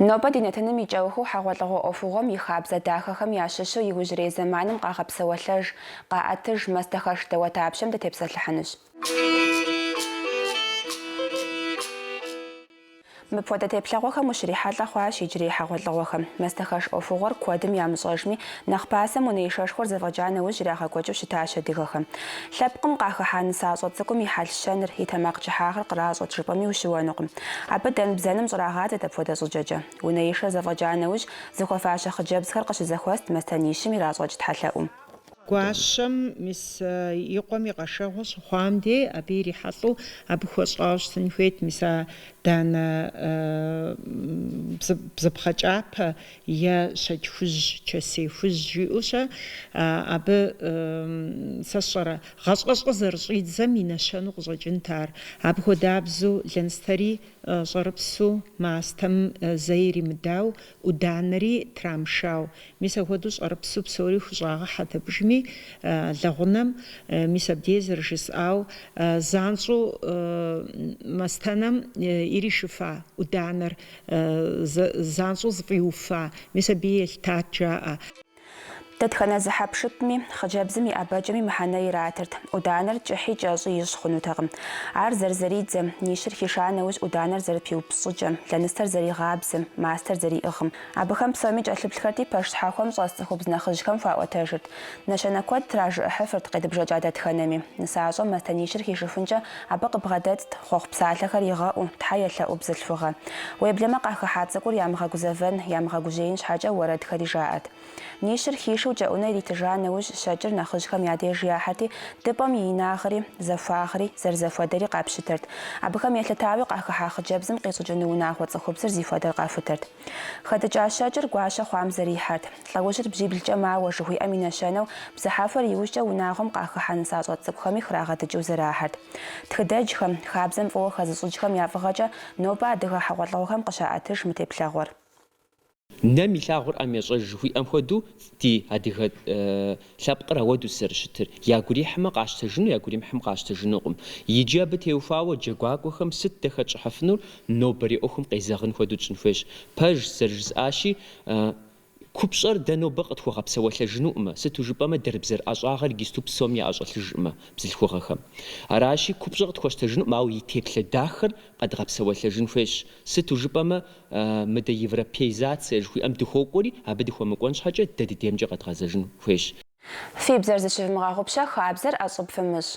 Нобэ ди нэтыным и кӏэухыу хьэгъуэлӏыгъуэ ӏуэхугъуэм и хабзэ дахэхэм ящыщу иужьрей зэманым къагъэпсэуэлъэж, къаӏэтыж, мастэхэш дауэдапщэм дытепсэлъыхьынущ. Мыпхуэдэ теплъэгъуэхэм ущрихьэлӏэ хъуащ иджырей хьэгъуэлӏыгъуэхэм. Мастэхэш ӏуэхугъуэр куэдым ямыщӏэжми, Нэхъ пасэм унэишэшхуэр зэфӏэкӏа нэужь ирагъэкӏуэкӏыу щытащ адыгэхэм. Лъэпкъым къахыхьа нысащӏэ цӏыкӏум и хьэл-щэныр, и тэмакъ кӏыхьагъыр къращӏэт жыпӏэми ущыуэнукъым. Абы дэн-бзэным щӏрагъадзэт апхуэдэ щӏыкӏэкӏэ. Унэишэр зэфӏэкӏа нэужь, зыхуэфащэ хъыджэбзхэр къыщызэхуэст мастэнищым иращӏэкӏ тхьэлъэӏум. Гуащэм мис и къуэм и къэшэгъуэ щыхъуам де, абы ирихьэлӏэу абы хуэщӏауэ щытын хуейт мис а данэ бзыпхъэ кӏапэ е щэкӏ хужь, чэсей хужь жиӏэу-щэ, абы, сэ сщӏэрэ, гъащӏэщӏэ зэрыщӏидзэм и нэщэнэу къыщӏэкӏынт ар. Абы хуэдабзэу лэныстэри щӏэрыпсу мастэм зэ иримыдау, ӏуданэри трамышау. Мис апхуэдэу щӏэрыпсу псори хущӏагъэхьэт абыжми, лэгъунэм. Мис абдей зэрыжысӏау, занщӏэу мастэнэм иришыфа ӏуданэр Занщӏэу зыфӏиуфа, мис абы елъытат, жаӏэ. Дэтхэнэ зы хьэпшыпми, хъыджэбзым и ӏэбэкӏэми мыхьэнэ иратырт. ӏуданэр кӏыхьи кӏэщӏи ищӏ хъунутэкъым. Ар зэрызэридзэм, нищыр хиша нэужь ӏуданэр зэрыпиупщӏыкӏэм, лэныстэр зэригъабзэм, мастэр зэриӏыгъым. Абыхэм псоми кӏэлъыплъхэрти, пэш щхьэхуэм щӏэс цӏыхубз нэхъыжьхэм хуаӏуэтэжырт. Нэщэнэ куэд тражыӏыхьыфырт къедыбжэкӏа дэтхэнэми. Нысащӏэм мастэнищыр хишыфынкӏэ Абы къыбгъэдэтт хъуэхъу псалъэхэр игъэӏуу, Тхьэ елъэӏу бзылъхугъэ. Уеблэмэ къахыхьа цӏыкӏур ямыгъэгузэвэн, ямыгъэгужьеин щхьэкӏэ уэрэдхэри жаӏэрт. Нищыр хишэу кӏэӏунэ иритыжа нэужь, щэкӏыр нэхъыжьхэм я деж яхьэрти, дыпӏэм и инагъри, зэхуагъри, зэрызэхуэдэри къапщытэрт. Абыхэм елъытауи къахыхьа хъыджэбзым къищӏыкӏыну унагъуэ цӏыхубзыр зи хуэдэр къахутэрт. Хэдыкӏа щэкӏыр гуащэ хъуам зэрихьэрт. Лӏэужьыр бжьиблкӏэ мауэ жыхуиӏэм и нэщэнэу, бзыхьэхуэр иужькӏэ унагъуэм къахыхьэ нысащӏэ цӏыкӏухэми храгъэдыкӏыу зэрахьэрт. Тхыдэджхэм, хабзэм фӏыуэ хэзыщӏыкӏхэм я фӏыгъэкӏэ нобэ адыгэ хьэгъуэлӏыгъуэхэм къыщаӏэтыж мы теплъэгъуэр. Нэм илъагъур ӏэм ещӏэж жыхуиӏэм хуэдэу ди адыгэ Лъэпкъыр ауэдэущ зэрыщытыр, ягу ирихьмэ къащтэжыну, ягу иримыхьмэ къащтэжынукъым. Иджы абы теухуауэ джэгуакӏуэхэм сыт дэ хэтщӏыхьыфынур, нобэрей ӏуэхум къезэгъын хуэдэу тщӏын хуейщ. Пэжщ, зэрыжысӏащи, купщӏэр дэ нобэ къытхуэгъэпсэуэлъэжынукъымэ, сыту жыпӏэмэ дэрбзэр ӏэщӏагъэр гисту псом яӏэщӏэлъыжкъымэ бзылъхугъэхэм. Аращи, купщӏэр къытхуэщтэжынукъым, ауэ и теплъэ дахэр къэдгъэпсэуэлъэжын хуейщ, сыту жыпӏэмэ Мыдэ европеизацие жыхуиӏэм дыхуокӏуэри, абы дыхуэмыкӏуэн щхьэкӏэ дэ ди деймкӏэ къэдгъэзэжын хуейщ. Фи бзэр зыщывмыгъэгъупщэ хабзэр ӏэщӏыб фымыщӏ.